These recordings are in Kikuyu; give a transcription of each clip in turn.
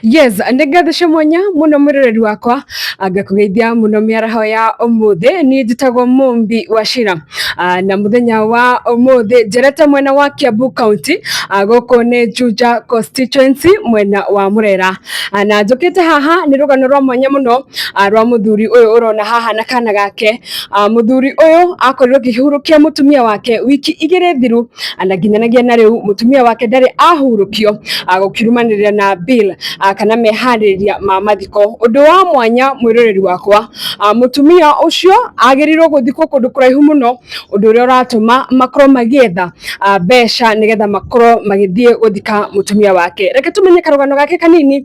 Yes, nĩ ngathĩca mwanya mũno mwĩroreri wakwa angakũgeithia mũno mĩaraho ya ũmũthĩ niĩ njĩtagwo Mũmbi wa Shira ah, na mũthenya wa ũmũthĩ njerete mwena wa Kiambu County ah, gũkũ nĩ Juja constituency mwena wa Murera ah, na njũkĩte haha nĩ rũgano rwa mwanya mũno rwa mũthuri ũyũ ũrona haha na kana gake mũthuri ũyũ akorirwo akĩhurũkia mũtumia wake wiki igĩrĩ thiru na nginyanagia na rĩu mũtumia wake ndarĩ ahurũkio ah, gũkirumanĩrĩra na Bill ah, kana meharĩrĩria ma mathiko. Ũndũ wa mwanya mwĩroreri wakwa, ah, mũtumia ũcio agĩrĩirwo gũthikwo kũndũ kũraihu mũno, ũndũ ũrĩa ũratũma makorwo magĩetha ah, mbeca nĩgetha makorwo magĩthiĩ gũthika mũtumia wake. Reke tũmenye karũgano gake kanini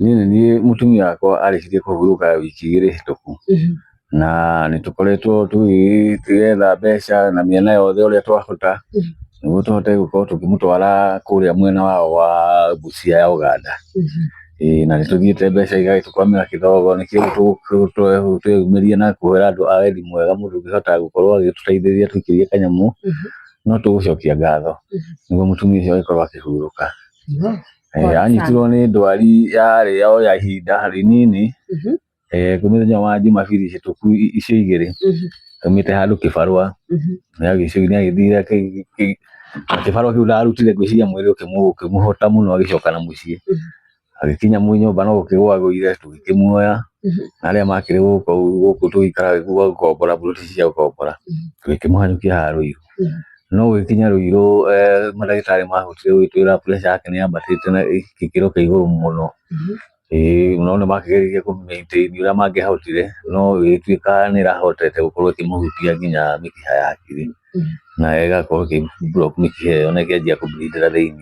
Niĩ nĩ niĩ mũtumia wakwa arĩkirie kũhurũka wiki igĩrĩ hĩtũku na nĩ tũkoretwo tũgĩ- tũgĩetha mbeca na mĩena yothe ũrĩa twahota nĩguo tũhote gũkorwo tũkĩmũtwara kũrĩa mwena wao wa Busia ya Ũganda. Ĩĩ na nĩ tũthiĩte mbeca igagĩtũkwamĩra kĩdogo nĩkĩo tũ- tũ- tũ- tweyumĩria na kũhũra andũ a wendi mwega mũndũ ũngĩhota gũkorwo agĩtũteithĩrĩria tũkĩgĩe kanyamũ no tũgũcokia ngatho nĩguo mũtumia ũcio agĩkorwo akĩhurũka. Eh, anyitirwo nĩ ndwari yarĩ o ya ihinda rĩnini Mhm, eh, kwĩ mũthenya wa jumabiri hĩtũku i- icio igĩrĩ mhm, aumĩte handũ kĩbarũa mhm. nĩagĩciogi nĩagĩthire kĩ- kĩ- na kĩbarũa kĩu ndarutire ngwĩciria mwĩrĩ ũkĩmũ- ũkĩmũhota mũno agĩcoka na mũciĩ Mhm. agĩkinya mu nyũmba no gũkĩgwa agũire tũgĩkĩmuoya Mhm. na arĩa makĩrĩ gũkũ gũkũ tũgĩikara gũkombora mbuti cia gũkombora Mhm. tũgĩkĩmũhanyũkia haha rũiru no gũgĩkinya rũirũ mandagĩtarĩ mahotire gũgĩtwĩra pressure yake nĩ yambatĩte na gĩkĩro kĩa igũrũ mũno. Ĩĩ no nĩ makĩgeririe kũ maintain ũrĩa mangĩahotire no ĩgĩtuĩka nĩ ĩrahotete gũkorwo ĩkĩmũhutia nginya mĩkiha ya hakiri na ĩgakorwo ĩkĩ block mĩkiha ĩyo na ĩkĩanjia kũ bleed thĩinĩ.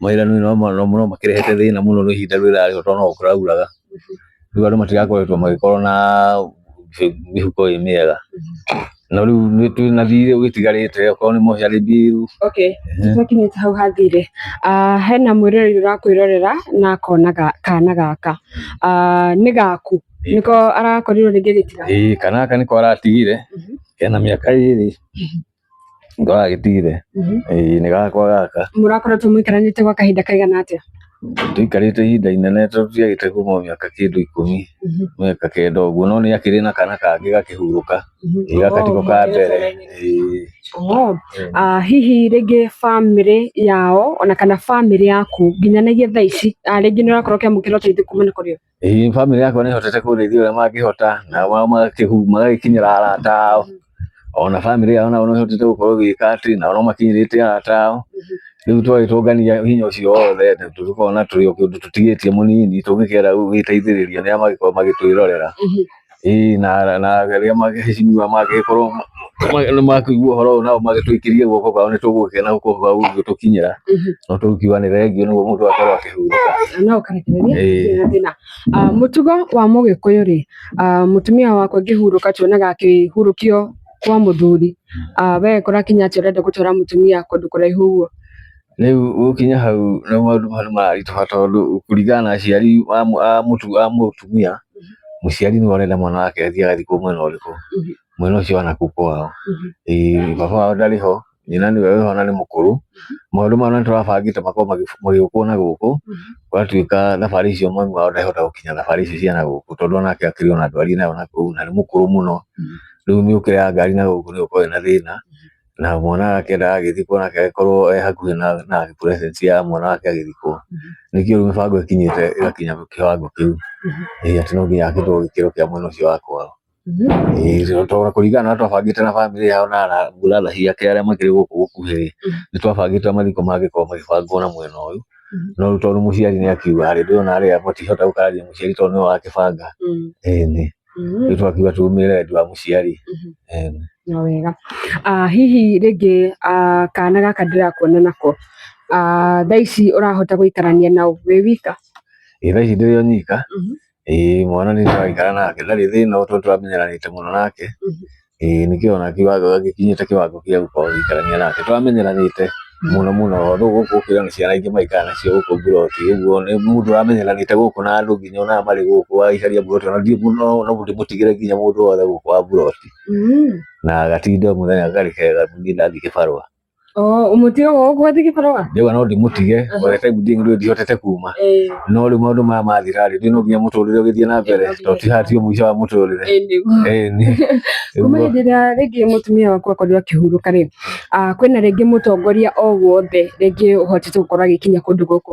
mawĩra nĩ no makĩrehete thĩna mũno nĩ ihinda rĩrĩa rĩrarĩ ho tondũ no kũrauraga, rĩu andũ matigakoretwo magĩkorwo na mĩhuko ĩ mĩega, no rĩu nĩ twĩ na thirĩ ũgĩtigarĩte okorwo nĩ mocarĩ mbiru. Okay, tũtakinyĩte hau ha thirĩ, hena mwĩroreri ũrakwĩrorera na akona kana gaka, nĩ gaku? Nĩko arakorirwo rĩngĩ gĩtirahũna? Ĩĩ kana gaka nĩko aratigire, kena mĩaka ĩrĩ. Ngoraga gĩtire. Mhm. Ĩĩ nĩ gakwa gaka. Mũrakoretwo mũikaranĩte gwa kahinda kaigana atĩa? Tũikarĩte ihinda inene tondũ ndiagĩte kuma mĩaka kĩndũ ikũmi Mhm. mĩaka kenda ũguo no nĩ akĩrĩ na kana kangĩ gakĩhurũka. Mhm. Ĩĩ gaka tiko ka Oh, mbere. Ĩĩ. Oh. Ah, hihi rĩngĩ bamĩrĩ yao ona kana bamĩrĩ yaku nginyanagia thaa ici ah, rĩngĩ nĩ ũrakorwo ũkĩamũkĩra ũteithio kumana kũrĩ o Ĩĩ family yakwa nĩ hotete kũndeithia ũrĩa mangĩhota na wao magakĩhu- magagĩkinyĩra arata ao ona family yao nao no ĩhotete gũkorwo ĩgĩka atĩ nao no makinyĩrĩte arata ao rĩu twagĩtũngania hinya ũcio wothe na tũkona tũrĩ o kĩndũ tũtigĩtie mũnini tũngĩkĩenda gũgĩteithĩrĩria nĩ arĩa magĩkoragwo magĩtwĩrorera ĩĩ na na rĩrĩa magĩcinyua mangĩkorwo nĩ makũigua ũhoro ũyũ nao magĩtũikĩrie guoko kwao nĩ tũgũgĩkena guoko kwao gũgĩtũkinyĩra no tũkiuga nĩ thengio nĩguo mũndũ akorwo akĩhurũka no ũkarekereria Ĩĩ. ndĩna thĩna Ah, mũtugo wa mũgĩkũyũ rĩ ah, mũtumia wakwa ngĩhurũka tuonaga akĩhurũkio kwa mũthuri Ah, we kũrakinya atĩ ũrenda gũtwara mũtumia kũndũ kũraihu ũguo Rĩu gũkinya hau nĩ maũndũ nĩ mararitũha tondũ kũringana na aciari a mũtumia, mũciari nĩwe ũrenda mwana wake athiĩ agathiĩ kũu mwena ũrĩkũ, mwena ũcio wa nakũu kwao. Ĩĩ baba wao ndarĩ ho, nyina nĩwe wĩho na nĩ mũkũrũ. Maũndũ maya nĩ tũrabangĩte makorwo magĩũkwo na gũkũ, gũgatuĩka thabarĩ icio mami wao ndangĩhota gũkinya thabarĩ icio cia na gũkũ tondũ o nake akĩrĩ o na ndwari e na yo nakũu na nĩ mũkũrũ mũno. Rĩu mĩũkĩre ya ngari na gũkũ nĩ ĩgũkorwo ĩna thĩna. na mwana wake ndagagĩthikwo nake agĩkorwo e hakuhĩ na, na presence ya mwana wake agĩthikwo nĩkĩo rĩu mĩbango ĩkinyĩte ĩgakinya kĩwango kĩu ĩĩ atĩ no nginya akĩtwo gĩkĩro kĩa mwena ũcio wa kwao Ĩĩ, tondũ kũringana na ũrĩa twabangĩte na bamĩrĩ yao na ara- brother ciake arĩa makĩrĩ gũkũ gũkuhĩ nĩ twabangĩte mathiko mangĩkorwo magĩbangwo na mwena ũyũ no rĩu tondũ mũciari nĩ akiuga rĩ ndũrona arĩa matihota gũkarĩria mũciari tondũ nĩwe wakĩbanga ĩni mm-hmm. nĩ twakiuga tũrũmĩrĩre wendi wa mũciari mm-hmm. na wega ah, hihi rĩngĩ ah, kana gaka ndĩrakuona nako ah, thaa ici ũrahota gũikarania nao wĩ wika ĩ thaa ici ndĩrĩ o nyika mm-hmm. ĩ mwana nĩ ndĩraikara nake ndarĩ thĩna tondũ tũramenyeranĩte mũno nake ĩĩ nĩ kĩo ona kiuga wega gĩkinyĩte kĩwango gĩa gũkorwo ũgĩikarania nake. Tũramenyeranĩte mũno mũno tondũ gũkũ ũkĩrĩ na ciana ingĩ maikara nacio gũkũ mburoti, ũguo nĩ mũndũ ũramenyeranĩte gũkũ na andũ nginya onaga marĩ gũkũ waicaria mburoti ona ndirĩ mũno na ndimũtigĩre nginya mũndũ wothe gũkũ wa mburoti. Na gatinde o mũthenya karĩ kega ndathiĩ kĩbarũa. Oh, umutige gũkũ atige barũa ndĩwa no ndĩmũtige Aha. by the time ndĩ ngĩrĩ ndihotete kuma Eh, no rĩu maũndũ maya mathira rĩ rĩu no nginya mũtũrĩre ũgĩthiĩ na mbere Eh, no tondũ ti haha tiyo mũico wa mũtũrĩre eh, nĩguo. Eh, nĩ- kuma nĩguo. hĩndĩ ĩrĩa rĩngĩ mũtumia waku akorirwo akĩhurũka rĩ ah, kwĩna rĩngĩ mũtongoria o wothe rĩngĩ ũhotete gũkorwo agĩkinya kũndũ gũkũ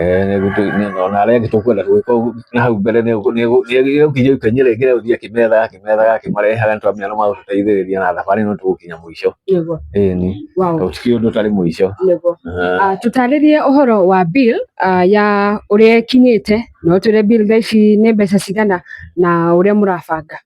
Eh, nĩ gũtu- nĩ- ona arĩa angĩ tũkwenda gwĩka ũguo na hau mbere nĩ ũguo- nĩ ũguo- nĩ ũguo- ũkinya ikonya rĩngĩ rĩa gũthiĩ akĩmethaga akĩmethaga akĩmarehaga nĩ twamenya nĩ magũtũteithĩrĩria na thabarĩ ĩno tũgũkinya mũico Yego. ĩĩ ni Wow. tondũ ti ũndũ ũtarĩ mũico Yego. Ah, Ah, tũtarĩrie ũhoro wa bill ah, ya ũrĩa ĩkinyĩte na ũtwĩre bill thaa ici nĩ mbeca cigana na ũrĩa mũrabanga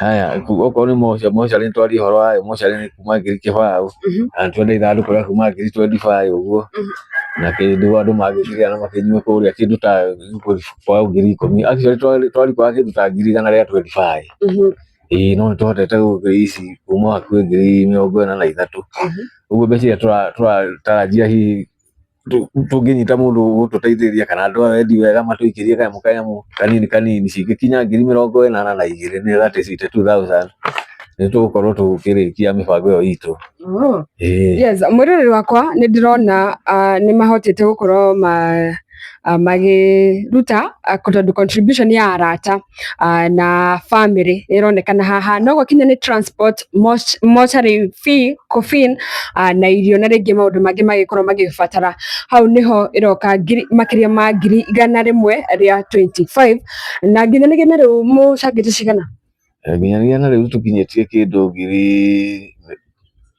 Haya, ku- okorwo nĩ moca- mocarĩ nĩ twaria ũhoro wayo mocarĩ nĩ kuma ngiri kĩbaũ Mhm. na nĩ twendire ithandũkũ rĩa kuma ngiri twendi baĩ ũguo Mhm. na kĩndũ andũ mangĩkĩrĩa na makĩnyua kũrĩa kĩndũ ta bao ngiri ikũmi actually twari- twarikwaga kĩndũ ta ngiri igana rĩa twendi baĩ Mhm. ĩĩ no nĩ tũhotete gũkĩrĩa ici kuma hakuhĩ ngiri mĩrongo ĩna na ithatũ Mhm. ũguo mbeca iria tũra- tũratarajia hihi tũngĩnyita mũndũ ũgũtũteithĩrĩria kana andũ aya endi wega matũikĩrie kanyamũ kanyamũ kanini kanini cingĩkinya ngiri mĩrongo ĩnana na igĩrĩ nĩ that is eighty two thousand nĩ tũgũkorwo tũkĩrĩkia mĩbango ĩyo itũ Oh. Ĩĩ. Yes, mwĩroreri wakwa nĩ ndĩrona ah, nĩ mahotete gũkorwo ma- ah, magĩruta ah, tondũ contribution ya arata ah, na family ĩronekana haha no gũkinya nĩ transport moch- mortuary fee coffin ah, na irio na rĩngĩ maũndũ mangĩ magĩkorwo magĩbatara hau nĩho ĩroka ngiri- makĩria ma ngiri igana rĩmwe rĩa 25 na nginya nĩ gĩna rĩu mũcangĩte cigana nginyanĩria na rĩu tũkinyĩtie kĩndũ ngiri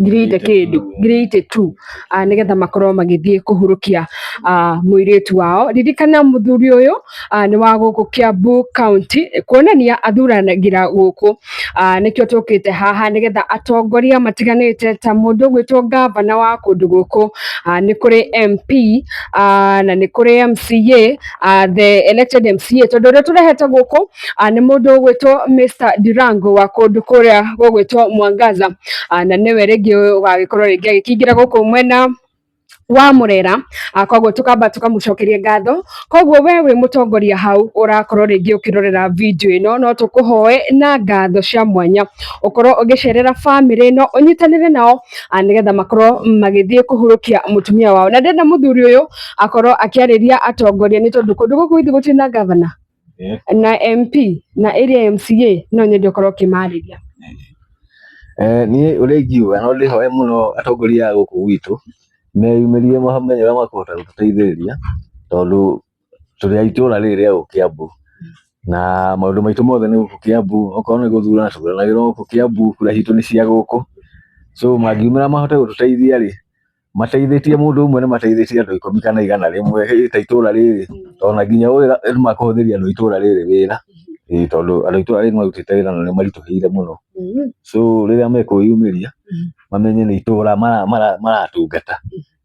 ngiri itĩ kĩndũ ngiri itĩ tu ah, nĩgetha makorwo magĩthiĩ kũhurũkia ah, mũirĩtu wao ririkana mũthuri ũyũ ah, nĩ wa gũkũ Kiambu County kuonania athuranagĩra gũkũ Ah, nĩkĩo tũkĩte haha nĩgetha atongoria matiganĩte ta mũndũ ũgwĩtwo ngavana wa kũndũ gũkũ ah, nĩ kũrĩ MP ah, na nĩ kũrĩ MCA ah, the elected MCA tondũ ũrĩa tũrehete gũkũ ah, nĩ mũndũ ũgwĩtwo Mr Durango wa kũndũ kũrĩa gũgwĩtwo Mwangaza, ah, na nĩwe rĩngĩ ũgagĩkorwo rĩngĩ agĩkĩingĩra gũkũ mwena wa murera ah, koguo tukamba tukamucokeria ngatho koguo we wi mutongoria hau urakorwo ringi ukirorera video ino no tukuhoe na ngatho cia mwanya ukorwo ugicerera family ino unyitanire nao ah, nigetha makorwo magithie kuhurukia mutumia wao na ndenda muthuri uyu akorwo akiariria atongoria ni tondu kundu guku ithi gutiri na gavana Eh. na MP na area MCA no nyende ũkorwo ũkĩmarĩria Eh, niĩ ũrĩa ingiuga no ndĩhoe mũno atongoria a gũkũ gwitũ meyumĩrie mamenye ũrĩa makũhota gũtũteithĩrĩria tondũ tũrĩ a itũũra rĩrĩ rĩa gũkũ Kiambu na maũndũ maitũ mothe nĩ gũkũ Kiambu okorwo nĩ gũthurana tũthuranagĩrwo gũkũ Kiambu kura citũ nĩ cia gũkũ so mangiumĩra mahote gũtũteithia rĩ mateithĩtie mũndũ ũmwe nĩ mateithĩtie andũ ikũmi kana igana rĩmwe hĩ, ta itũra rĩrĩ tondũ na nginya wĩra nĩ makũhũthĩria andũ a itũra rĩrĩ wĩra Ĩĩ, tondũ andũ a itũra rĩrĩ nĩ marutĩte wĩra na nĩ maritũhĩire mũno Mm. so rĩrĩa mekwĩyumĩria Mhm. mamenye nĩ itũra mara- mara- maratungata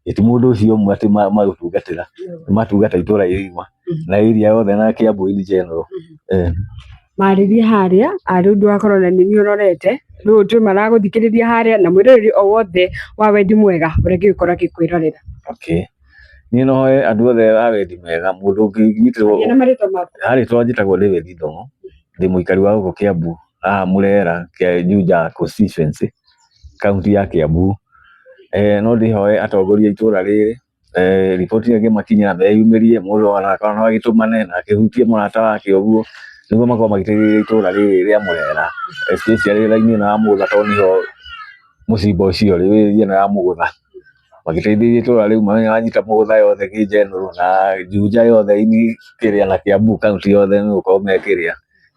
ĩti mũndũ ũcio ũmwe atĩ ma- magũtungatĩra nĩ matungata itũra igima na area yothe na Kiambu in general eh marĩrie harĩa arĩ ũndũ wakorwo na nini ũrorete rĩu ũndũ maragũthikĩrĩria harĩa na mwĩroreri o wothe wa wendi mwega ũrĩa gĩgũkorwo gĩkwĩrorera okay niĩ no hoye andũ othe a wendi mwega mũndũ ũngĩnyitĩrwo Gĩa na marĩtwa maku ha rĩtwa njĩtagwo David Ndong'o ndĩ mũikari wa gũkũ Kiambu haha Murera kĩa Juja constituency kaunti ya Kiambu eh no ndĩhoe atongoria a itũra rĩrĩ eh, riboti ĩyo ĩngĩmakinyĩra meyumĩrie mũndũ ona kana no agĩtũmane na akĩhutie mũrata wake ũguo nĩguo makorwo magĩteithĩrĩria itũũra rĩrĩ rĩa mũrera especially raini ĩno ya mũgũtha tondũ nĩho mũcimba ũcio rĩ wĩrĩ ĩno ya mũgũtha magĩteithĩrĩria itũũra rĩu mamenye wanyita mũgũtha yothe kĩnjenũrũ na njunja yothe ini kĩrĩa na kĩambu kaunti yothe nĩ gũkorwo me kĩrĩa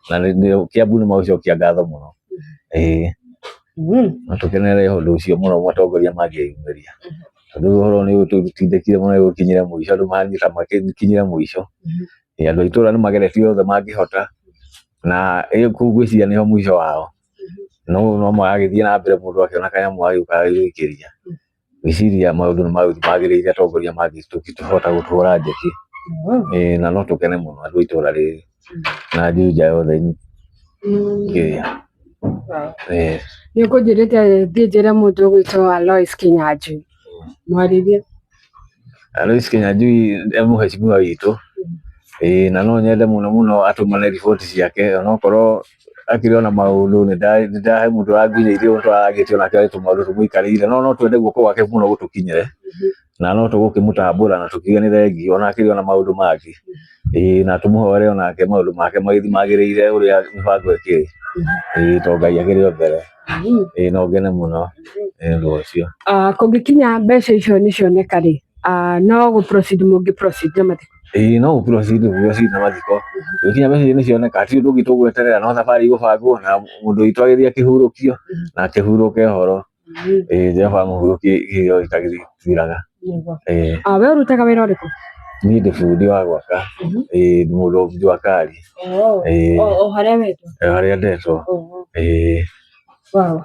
na nĩ- nĩ- kĩambu nĩ magũcokia ngatho mũno ĩĩ Mm. na tũkenerere ũndũ ũcio mũno mũtongoria mangĩyumĩria Rĩu ũhoro nĩ ũtindĩkire mũno nĩ gũkinyire mũico, andũ manyita magĩkinyire mũico. Ĩ andũ a itũũra nĩ mageretie othe mangĩhota, na ĩ kũu ngwĩciria nĩho mũico wao. No ũyũ no maragĩthiĩ na mbere mũndũ akĩona kanyamũ agĩũka agĩgũikĩria. Ngwĩciria maũndũ nĩ magũthiĩ magĩrĩire atongoria mangĩhota gũtũhũra njeki, ĩ na no tũkene mũno andũ a itũũra rĩrĩ. na Juja yothe kĩrĩa eh, nä å kå njä rä te thiä njä re må ndå gwä two alois kinyanjui mwarithia Alois Kinyanjui e mũhecimiwa witũ ĩĩ na no nyende mũno mũno atũmane riboti ciake onokorwo akĩrĩ ona maũndũ nĩ nda- nĩ ndahe mũndũ wanginyĩirie ũndũ aragĩtie onake arĩ tũmaũndũ tũmũikarĩire no no twende guoko gwake mũno gũtũkinyĩre na no tũgũkĩmũtambũra na tũkiuge nĩ thengi ona akĩrĩ ona maũndũ mangĩ ĩĩ na tũmũhore onake maũndũ make magĩthi magĩrĩire ũrĩa mĩbango ĩkĩrĩ ĩĩ to Ngai akĩrĩ o mbere ĩĩ no ngene mũno nĩ ũndũ ũcio. Ah, kũngĩkinya mbeca icio nĩ cioneka rĩ ah, no gũ proceed mũngĩ proceed na mathiko ĩĩ no gũkirwo cindũ guo cindũ mathiko gũkinya mbeca icio nĩ cioneka ti ũndũ ũngĩ tũgweterera no thabarĩ igũbangwo na mũndũ witũ agĩthiĩ akĩhurũkio na akĩhurũke horo eh nja ba mũhuro kĩ kĩ gĩtagĩthiraga eh Ah, we ũrutaga wĩra ũrĩkũ? niĩ ndĩ bundi wa gwaka eh ndĩ mũndũ wa bundi wa kari Oh, Eh. oh, oh, harĩa wetwo. eh, harĩa ndetwo Oh, oh. eh Wow.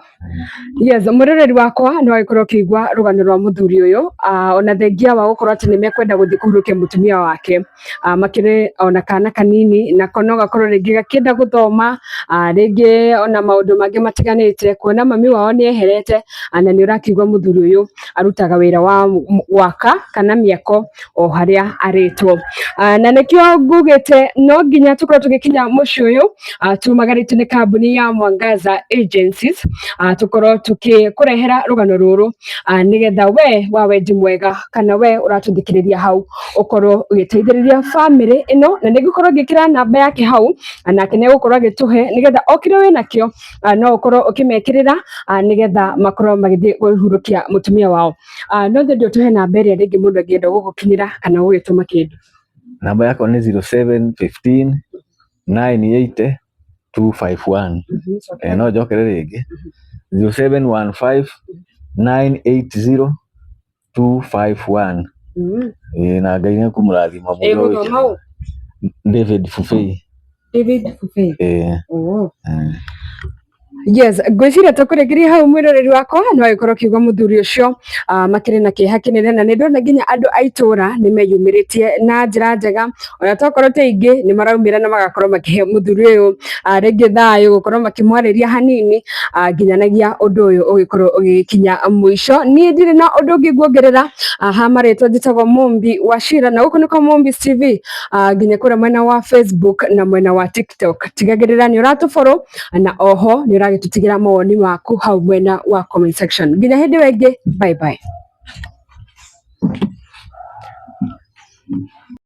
Yes, mũroreri wakwa nĩ wagĩkorwo ũkĩigua rũgano rwa mũthuri ũyũ ah, ona thengia wa gũkorwo atĩ nĩ mekwenda gũthiĩ kũhurũkia mũtumia wake ah, makĩrĩ ona kana kanini nako no gakorwo rĩngĩ gakĩenda gũthoma ah, rĩngĩ ona maũndũ mangĩ matiganĩte kuona mami wao nĩ eherete ah, na nĩ ũrakiuga mũthuri ũyũ arutaga wĩra wa gwaka kana mĩako o harĩa arĩtwo Ah, na nĩkĩo ngugĩte no nginya tũkorwo tũgĩkinya mũciĩ ũyũ ah, tumagarĩtio nĩ kambuni ya Mwangaza Agencies ah, tũkorwo tũkĩkũrehera rũgano rũrũ ah, nĩgetha we wa wendi mwega kana we ũratũthikĩrĩria hau ũkorwo ũgĩteithĩrĩria bamĩrĩ ĩno, na nĩ ngũkorwo ngĩkĩra namba yake hau, nake nĩ egũkorwo agĩtũhe nĩgetha o kĩrĩa wĩ nakĩo no ũkorwo ũkĩmekĩrĩra nĩgetha makorwo magĩthiĩ kũhurũkia mũtumia wao. No nyende ũtũhe namba ĩrĩa rĩngĩ mũndũ angĩenda gũgũkinyĩra kana gũgĩtũma kĩndũ. Namba yakwa nĩ zero seven fifteen nine eighty two five one. No njokere rĩngĩ zero seven one five nine eight zero 251 Mm. Eh, na ngai nä kũmũrathima Ĩ mũno mũno mau. david fufei David Fufei. Eh, Oh. eh. yes ngwĩciria tũkũrĩkĩria hau mwĩroreri wakwa no ĩkorwo kiugo mũthuri ũcio ah, makĩrĩ na kĩeha kĩnene na nĩ ndona nginya andũ a itũũra nĩ meyumĩrĩtie na njĩra njega ona tokorwo ti aingĩ nĩ maraumĩra na magakorwo makĩhe mũthuri ũyũ ah, rĩngĩ thayũ gũkorwo makĩmwarĩria hanini ah, nginyanagia ũndũ ũyũ ũgĩkorwo ũgĩkinya mũico niĩ ndirĩ na ũndũ ũngĩ nguongerera ah, ha marĩtwa njĩtagwo Mumbi wa Shira na gũkũ nĩkwa Mumbi TV ah, nginya kũrĩa mwena wa Facebook na mwena wa TikTok tigagĩrĩra nĩ ũratũborwo na oho nĩ ũragĩtũtigĩra mawoni maku hau mwena wa comment section nginya hĩndĩ ĩyo ĩngĩ bye bye